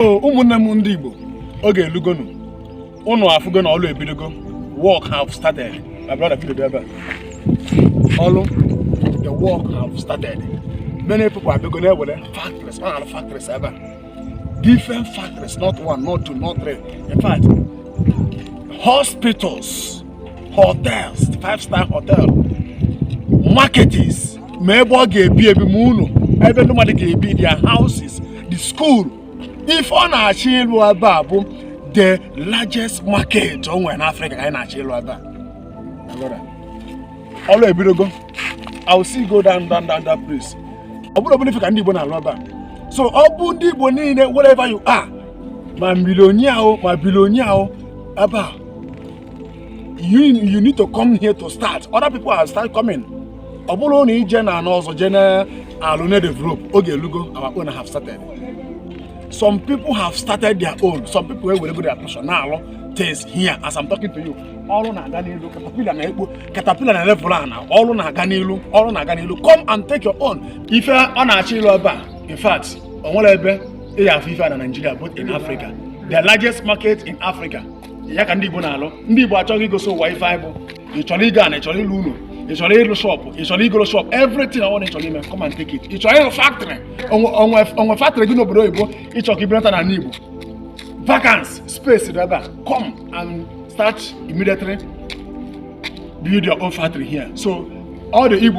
ụmụnne m ndị Igbo oge elugonu ụnụ afụgo na ọlụ ebidogo work have started my brother video ebe ọlụ the work have started many people abịago na-ewere factories a na-alụ factories ebe a different factories not one not two not three in fact hospitals hotels five star hotel markets ma ebe ọ ga-ebi ebi ma ụlọ ebe ndị mmadụ ga-ebi their houses the school ife ọ na-achọ ịlụ ebe a bụ the largest market o nwere n'afrịka ka anyị na-achọ ịlụ ebe a ọlụ ebidogo I will still go down down down that place ọ bụrọ obele ife ka ndị igbo na-alụ ebe a so ọ bụ ndị igbo niile wherever you are ma millionaire o ma billionaire o ebe a you, you need to come here to start other people have started coming ọ bụrọ na ị je n'ana ọzọ jee na-alụ na-develop oge elugo our own have started some people have started their own some people ewerego their portion na-alụ things here as i'm talking to you ọlụ na-aga n'iru caterpillar na-ekpo caterpillar na-level ana ọlụ na-aga n'iru ọlụ na-aga n'iru come and take your own ife ọ na-achọ ịlụ ebe a in fact o nwerọ ebe ị ga-afụ ife a na Nigeria both in Africa the largest market in Africa ya ka ndị Igbo na-alụ ndị Igbo chọrọ igosi ụwa ife anyị bụ ị chọrọ ịgọ ana ị chọrọ ịlụ ụlọ ị chọrọ ịlụ shop ị chọrọ ịgọrọ shop everything ọbụna ị chọrọ ime come and take it ị chọrọ ịlụ factory o nwee factory gị n'obodo oyibo ị chọrọ ka i bunata n'ala Igbo vacant space dị ebe a come and start immediately build your own factory here so all the Igbo